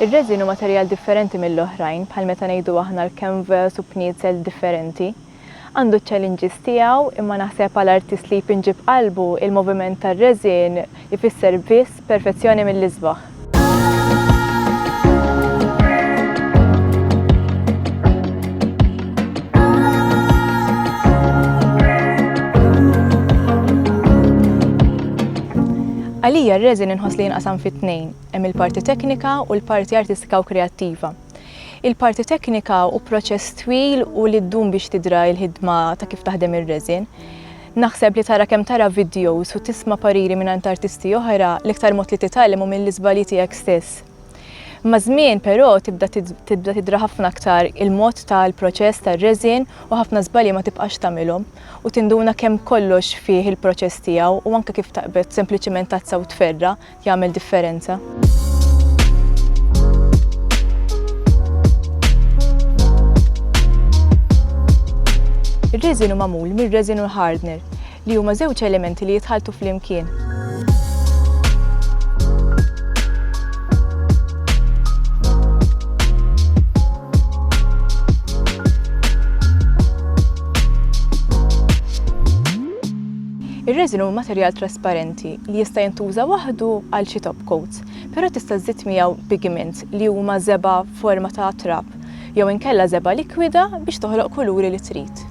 Ir-reżin hu materjal differenti mill-oħrajn, bħal meta ngħidu aħna l-canvas u bniedzel differenti. Għandu ċ-challenges tiegħu, imma naħseb għal artist li jpinġi b'qalbu, il-moviment tar-reżin, ifisser biss perfezzjoni mill-isbaħ. Għalija r-reżin inħoss li jinqasam fi tnejn, hemm il-parti teknika u l-parti artistika u kreattiva. Il-parti teknika hu proċess twil u li ddum biex tidra l-ħidma ta' kif taħdem ir-resin. Naħseb li tara kemm tara vidjows u tisma' pariri mingħand artisti oħra, l-iktar mod li titgħallem hu mill-iżbalji tiegħek stess. Maż-żmien, però, tibda tibda tidra ħafna aktar il-mod tal-proċess tar-resin u ħafna żbalji ma tibqax tagħmilhom u tinduna kemm kollox fih il-proċess tiegħu u anke kif taqbed sempliċiment tazza u tferra' jagħmel differenza. Ir-reżinu magħmul mir-reżinu l-hardner li huma żewġ elementi li jitħaltu flimkien. Ir-resin hu materjal trasparenti li jista' jintuża waħdu għal xi top coat, però tista' żżid miegħu pigments li huma żebgħa f'forma ta' trab jew inkella żebgħa likwida biex toħloq kuluri li trid.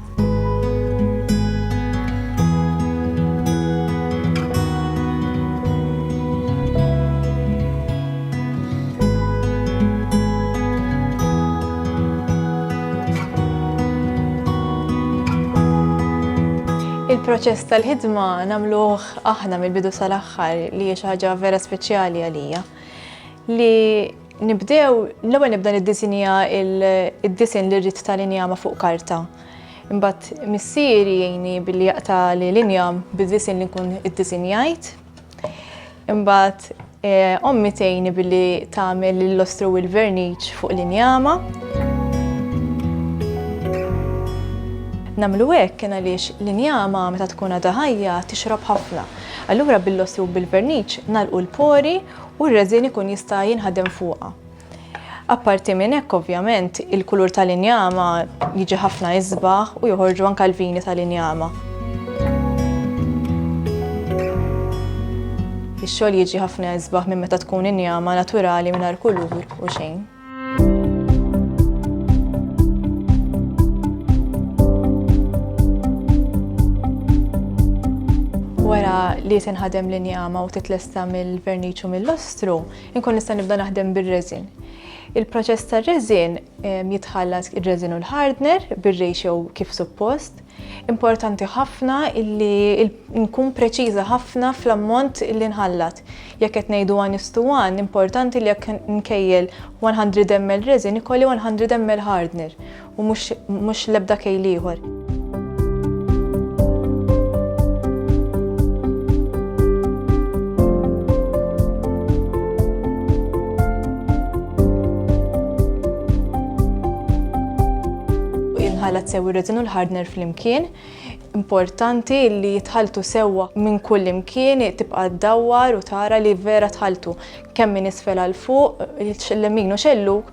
Il-proċess tal-ħidma nagħmluh aħna mill-bidu sal-aħħar li hija xi ħaġa vera speċjali għalija. Li nibdew l-ewwel nibda niddisinja id-disin li rrid tal-injama fuq karta. Imbagħad missieri jgħini billi jaqta' l-injam bid-disin li nkun iddisinjajt Imbagħad eh, ommi tgħini billi tagħmel l-lostru u l-verniċ fuq l-injama. Namlu hekk kien għaliex l-injama meta tkun għadha ħajja tixrob ħafna. Allura bil-lostru u bil-verniċ nalqu l-pori u r-reżin ikun jista' jinħadem fuqha. Apparti minn hekk ovvjament il-kulur tal-injama jiġi ħafna isbaħ u joħorġu anke l-vini tal-injama. Ix-xogħol jiġi ħafna isbaħ minn meta tkun injama naturali mingħajr kulur u xejn. li tinħadem l-injama u titlesta mill-verniċ u mill-lostru, Inkun nista' nibda naħdem bir-reżin. Il-proċess tar-reżin jitħallas ir-reżin u l-hardner bir-ratio kif suppost. Importanti ħafna illi nkun preċiża ħafna fl-ammont li nħallat. Jekk qed ngħidu għan istu għan, importanti li jekk nkejjel 100 ml reżin ikolli 100 ml hardner u mhux l-ebda kejl ieħor. tħallat sew ir-retin u l-ħardner flimkien. Importanti li jitħaltu sewwa minn kull imkien tibqa' ddawwar u tara li vera tħaltu kemm minn isfel għal fuq, l-lemin u xelluk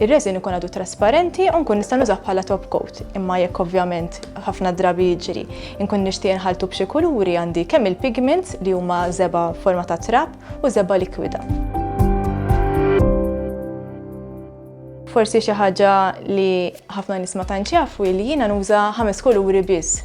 Ir-resin ikun għadu trasparenti u nkun nista' nużah bħala top coat, imma jekk ovvjament ħafna drabi jiġri nkun nixtieq inħalltu b'xi kuluri għandi kemm il-pigments li huma żebgħa forma ta' trab u żebgħa likwida. Forsi xi ħaġa li ħafna nies ma tantx jafu hi li jiena nuża ħames kuluri biss.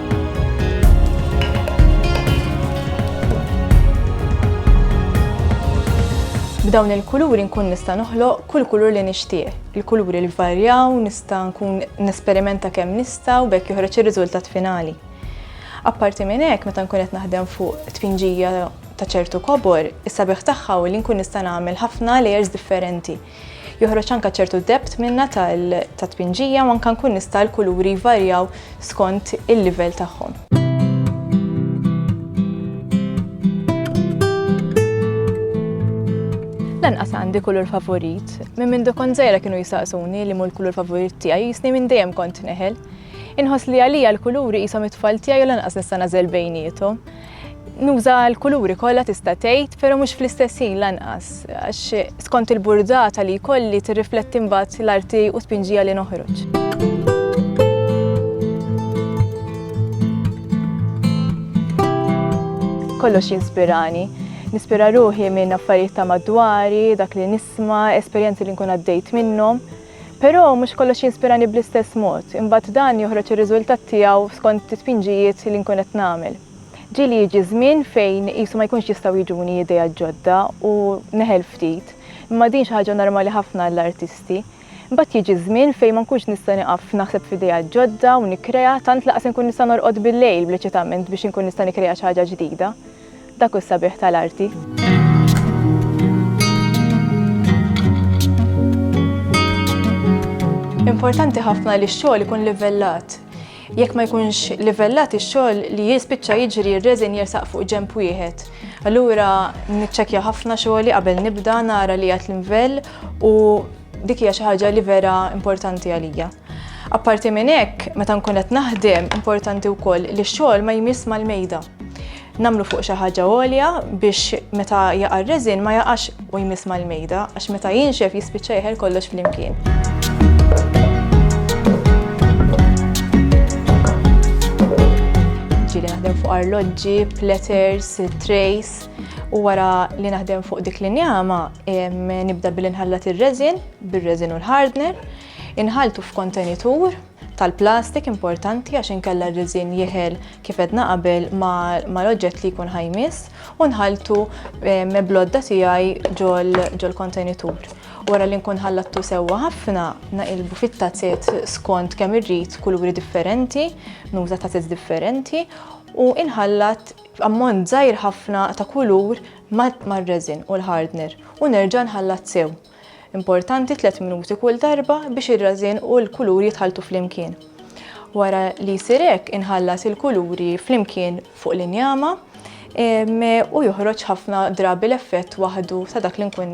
B'dawn il-kuluri nkun nista' noħloq kull kulur li nixtieq. Il-kuluri l-varjaw, nista' nkun nesperimenta kemm nista' u bekk joħroġ ir-riżultat finali. Apparti minn hekk, meta nkun qed naħdem fuq tpinġija ta' ċertu kobor, is-sabiħ tagħha u li nkun nista' nagħmel ħafna layers differenti Joħroġ anke ċertu depth minnha tat-tpinġija u anke nkun nista' l-kuluri jvarjaw skont il-livell tagħhom. Lanqas għandi kulur favorit. Minn minn dokon zejra kienu jisaqsuni li mu l-kulur favorit tiegħi jisni minn dejjem kont neħel. Inħoss li għalija l-kuluri jisom it-tfal tiegħi u lanqas nista' nażel bejnietom. Nuża l-kuluri kollha tista' tgħid, però mhux fl-istess ħin lanqas, għax skont il-burdata li jkolli tirrifletti mbagħad l-arti u tpinġija li noħroġ. Kollox jinspirani. Nispira ruħi minn affarijiet ta' madwari, dak li nisma, esperjenzi li nkun għaddejt minnhom. Però mhux kollox jinspirani bl-istess mod, imbagħad dan joħroġ ir-riżultat tiegħu skont it-tpinġijiet li nkun qed nagħmel. Ġieli jiġi żmien fejn qisu ma jkunx jistgħu jiġuni ideat ġodda u neħel ftit, imma din xi ħaġa normali ħafna għall-artisti. Imbagħad jiġi żmien fejn ma nkunx nista' nieqaf naħseb f'ideat ġodda u nikkrea, tant lanqas inkun nista' norqod bil-lejl bl-eċitament biex inkun nista' nikkrea xi ħaġa ġdida. Dak hu s-sabiħ tal-arti. Importanti ħafna li x-xogħol ikun livellat. Jekk ma jkunx livellat ix-xogħol li jispiċċa jiġri r-reżin jersaq fuq ġemp wieħed. Allura niċċekkja ħafna xogħli qabel nibda nara li għad l-invell u Dik hija xi ħaġa li vera importanti għalija. Apparti minn hekk, meta nkun qed naħdem, importanti wkoll li x-xogħol ma jmiss mal-mejda. Nagħmlu fuq xi ħaġa għolja biex meta jaqa' r-reżin ma jaqax u jmiss mal-mejda għax meta jinxef jispiċċa jeħel kollox flimkien. Ġieli naħdem fuq arloġġi, platters, trays. U wara li naħdem fuq dik l-injama, nibda billi nħallat ir-reżin, bir-reżin u l-hardner, inħaltu f'kontenitur tal-plastik importanti għax inkella r-reżin jeħel kif qed naqabel ma l-oġġett li jkun ħajmis u nħaltu meblodda tiegħi ġol kontenitur. Wara li nkun ħallattu sewwa ħafna, naqilbu fit-tazet skont kemm irrid kuluri differenti, nuża tazet differenti u inħallat b'ammont żgħir ħafna ta' kulur mar-resin u l-hardener u nerġa' nħallat sew. Importanti tliet minuti kull darba biex ir-resin u l-kulur jitħalltu flimkien. Wara li jsir hekk inħallas il-kuluri flimkien fuq l-injama u joħroġ ħafna drabi l-effett waħdu ta' dak li nkun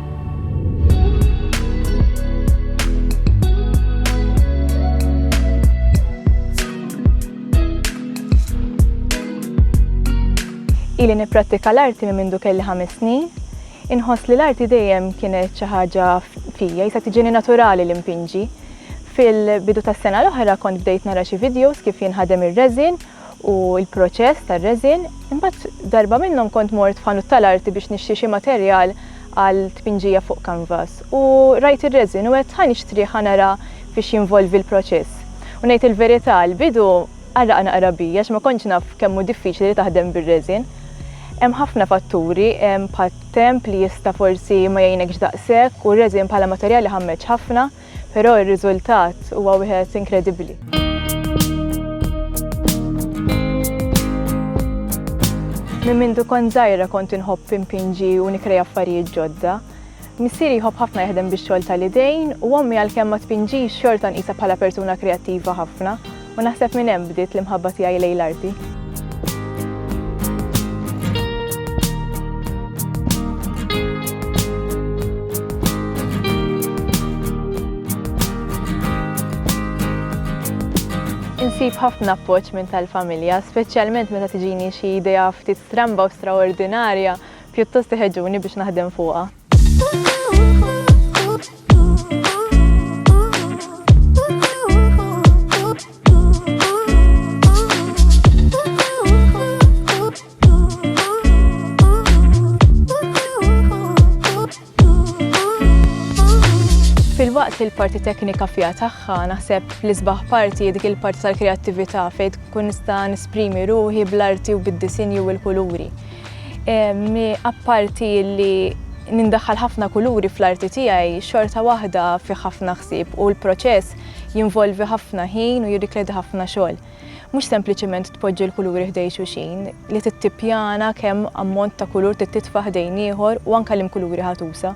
Ili nipprattika l-arti minn mindu kelli ħames snin. Inħoss li l-arti dejjem kienet xi ħaġa fija, jisa tiġini naturali li mpinġi. Fil-bidu tas-sena l-oħra kont bdejt nara xi videos kif jinħadem ir-reżin u l-proċess tar-resin, imbagħad darba minnhom kont mort f'ħanut tal-arti biex nixtri xi materjal għal tpinġija fuq kanvas u rajt ir-resin u għedt ħa nixtrih ħa nara fiex jinvolvi l-proċess. U ngħid il-verità għall-bidu qarraq naqra bija għax ma kontx naf kemm hu diffiċli li taħdem bir-resin. Hemm ħafna fatturi bħat-temp li jista' forsi ma jgħinekx daqshekk u r-resin bħala materjal iħammeġ ħafna. Però r-riżultat huwa wieħed inkredibbli. Minn mindu kont żgħira kont inħobb impinġi u nikrej affarijiet ġodda. Missieri jħobb ħafna jaħdem bix-xogħol tal-idejn u ommi għalkemm ma tpinġix xorta nqisha bħala persuna kreattiva ħafna. U naħseb minn hemm bdiet l-imħabba tiegħi lejn l-arti. Insib ħafna appoġġ minn tal-familja, speċjalment meta tiġini xi idea ftit stramba u straordinarja, pjuttost iħeġġuni biex naħdem fuqha. Filwaqt li l-parti teknika fija tagħha naħseb l-isbaħ parti dik il-parti tal-kreattività fejn tkun nista' nisprimi ruħi bl-arti u bid-disinju u l-kuluri. Apparti li nindaħħal ħafna kuluri fl-arti tiegħi, xorta waħda fi ħafna ħsieb u l-proċess jinvolvi ħafna ħin u jirrikledi ħafna xogħol. Mhux sempliċement tpoġġi l-kuluri ħdej xuxin, li tittippjana kemm ammont ta' kulur tittitfa' ħdejn ieħor u anke l-imkuluri ħatusa.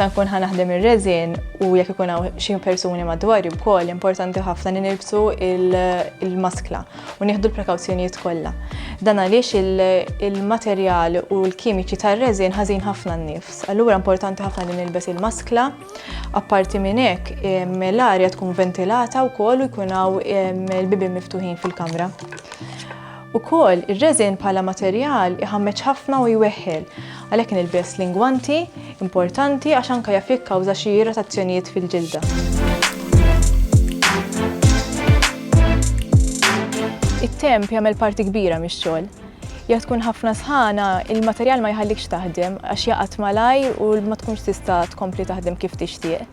meta nkun ħa naħdem ir-reżin u jekk ikun hawn xi persuni madwar wkoll importanti ħafna li nilbsu il-maskla u nieħdu l-prekawzjonijiet kollha. Dan għaliex il-materjal u l-kimiċi tar-reżin ħażin ħafna n-nifs. Allura importanti ħafna li nilbes il-maskla Apparti minn hekk, l-arja tkun ventilata wkoll u jkun hawn il-bibien miftuħin fil-kamra. Ukoll, ir-reżin bħala materjal iħammeġ ħafna u jweħħel, għalhekk nilbes lingwanti importanti għax anke jaf jikkawża xi irritazzjonijiet fil-ġilda. It-temp jagħmel parti kbira mix-xogħol. Jekk tkun ħafna sħana, il-materjal ma jħallikx taħdem għax jaqgħad malajr u ma tkunx tista' tkompli taħdem kif tixtieq.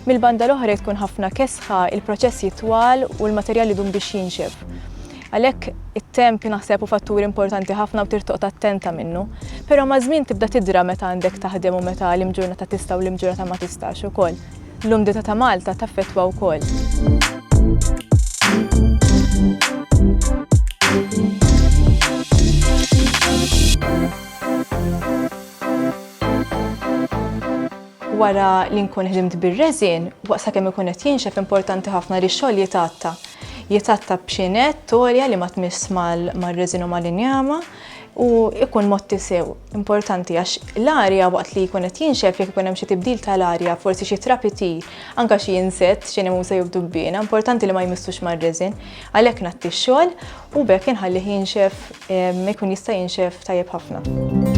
Mill-banda l-oħra jekk tkun ħafna kesħa, il-proċess jitwal u l-materjal idum biex jinxef. Għalhekk it-temp naħseb hu fattur importanti ħafna u trid toqgħod attenta minnu. Però maż-żmien tibda tidra meta għandek taħdem u meta l-imġurnata tista' u l-imġurnata ma tistax ukoll. L-umdità ta' Malta taffettwa wkoll. Wara li nkun ħdimt bir-reżin, waqt sakemm ikun qed jinxef importanti ħafna li x-xogħol jitgħatta. Jitgħatta b'xi nett għolja li ma tmiss mal-reżin u mal-injama, u jkun motti sew importanti għax l-arja waqt li jkun qed jinxef jekk ikun hemm xi tibdil tal-arja, forsi xi trapiti, anke xi insett, xi nemusa jew dubbiena, importanti li ma jmissux mar-reżin. Għalhekk natti x-xogħol u bekk inħallih jinxef ehm, ikun jista' jinxef tajjeb ħafna.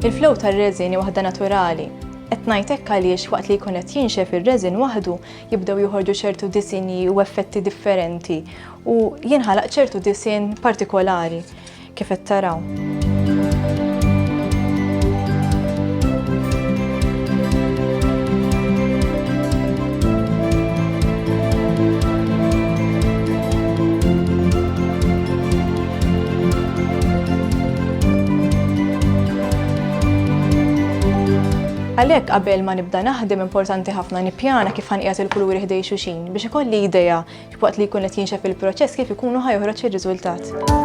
Il-flow tar-reżini waħda naturali. Qed ngħid hekk għaliex waqt li jkun qed jinxef ir-reżin waħdu jibdew joħorġu ċertu disinji u effetti differenti u jinħalaq ċertu disin partikolari kif qed taraw. Għalhekk qabel ma nibda naħdem importanti ħafna nippjana kif ħanqiegħed il-kuluri ħdej xuxin biex ikolli idea waqt li jkun qed jinxef il-proċess kif ikunu ħajħroġ ir-riżultat.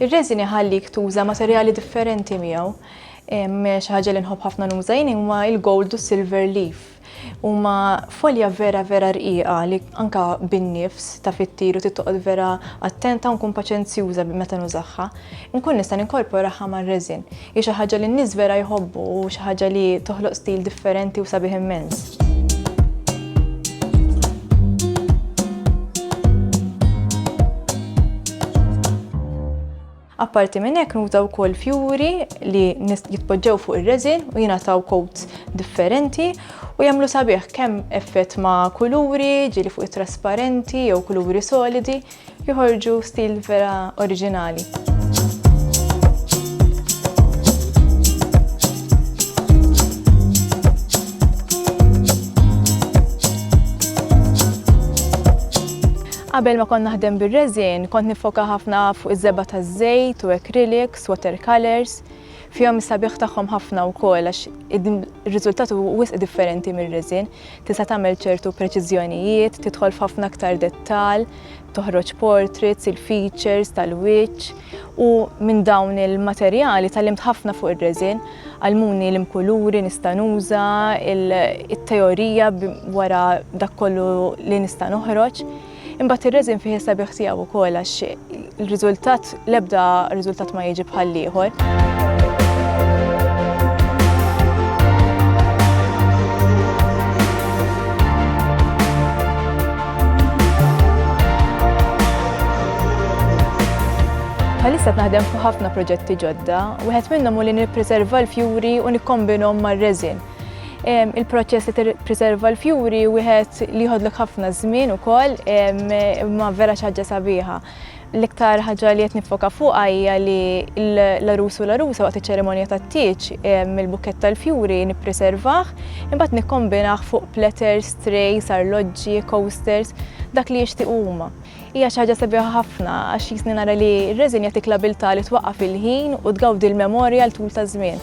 Ir-reżin iħallik tuża materjali differenti miegħu. Xi ħaġa li nħobb ħafna nuża jien huma l-gold u s-silver leaf. Huma folja vera vera rqiqa li anka bin-nifs ta' fit-tir u tittoqgħod vera attenta u nkun paċenzjuża meta nużaha. Nkun nista' ninkorporaha mar-resin. Hi xi ħaġa li n-nies vera jħobbu u xi ħaġa li toħloq stil differenti u sabiħ immens. Apparti minn hekk nuża wkoll fjuri li jitpoġġew fuq ir-reżin u jingħataw coats differenti u jagħmlu sabiħ kemm effett ma' kuluri, ġieli fuq it-trasparenti jew kuluri solidi, joħorġu stil vera oriġinali. Qabel ma kont naħdem bir-resin, kont niffoka ħafna fuq iż-żebgħa taż-żejt u acrylics, watercolours. Fihom is-sabiħ tagħhom ħafna wkoll għax ir-riżultat hu wisq differenti mir-resin. Tista' tagħmel ċertu preċiżjonijiet, tidħol f'ħafna aktar dettall, toħroġ portraits, il-features tal-wiċċ, U minn dawn il-materjali tgħallimt ħafna fuq ir-reżin, għallmuni l-imkuluri nista' nuża, it-teorija wara dak kollu li nista' noħroġ. Imbagħad ir-reżin fih is-sabiħ tiegħu wkoll għax il-riżultat l-ebda riżultat ma jiġi bħal ieħor. Bħalissa naħdem fuq ħafna proġetti ġodda, wieħed minnhom u li nippreserva l-fjuri u nikkombinhom mar-reżin. Il-proċess li preserva l-fjuri wieħed li jħodlok ħafna żmien ukoll ma vera xi ħaġa sabiħa. L-iktar ħaġa li qed niffoka fuqha hija li l-għarus u l-għarusa waqt iċ-ċerimonja tat-tieġ mill-bukkett tal-fjuri nippriservah, imbagħad nikkombinah fuq platters, trays, arloġġi, coasters, dak li jixtiequ huma. Hija xi ħaġa sabiħa ħafna għax jisni nara li r-reżin jagħtik l-abiltà li twaqqaf il-ħin u tgawdi l-memorja għal tul ta' żmien.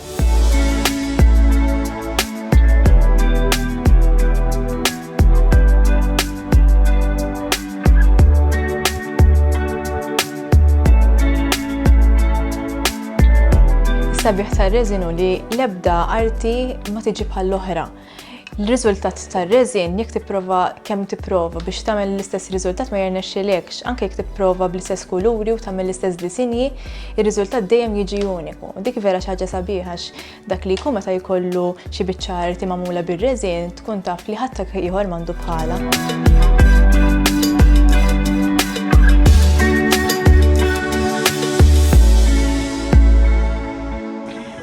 Sabiħ tar-reżinu li l-ebda arti ma tiġi bħall-oħra l-riżultat tar-reżin jekk tipprova kemm tipprova biex tagħmel l-istess riżultat ma jirnexxilekx, anke jekk tipprova bl-istess kuluri u tagħmel l-istess disinji, ir-riżultat dejjem jiġi uniku. Dik vera xi ħaġa sabiħax Dak li jkun meta jkollu xi biċċa arti magħmula bir-reżin tkun taf li ħadd ieħor m'għandu bħala.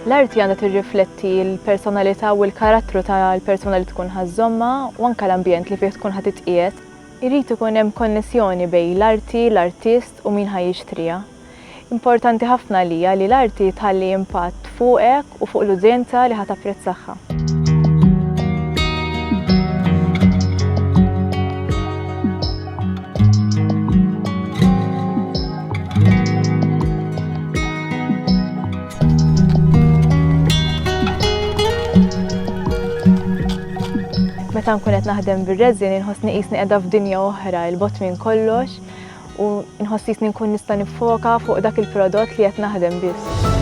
L-arti għandha tirrifletti l-personalità u l-karattru tal-persuna li tkun ħażżomma u anke l-ambjent li fih tkun ħadd titqiegħed. Irid ikun hemm konnessjoni bejn l-arti, l-artist u min ħaj jixtriha. Importanti ħafna għalija li l-arti tħalli impatt fuqek u fuq l-udjenza li ħa tapprezzagħha. Meta nkun qed naħdem bir-reżin inħossni qisni qiegħda f'dinja oħra, 'il bogħod minn kollox. u nħoss jisni nkun nista' nifoka fuq dak il-prodott li qed naħdem biss.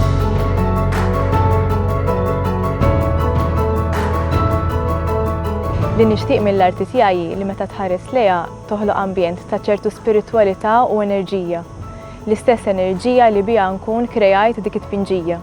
Li nixtieq mill-arti tiegħi li meta tħares lejha toħloq ambjent ta' ċertu spiritwalità u enerġija. L-istess enerġija li biha nkun kreajt dik it-tpinġija.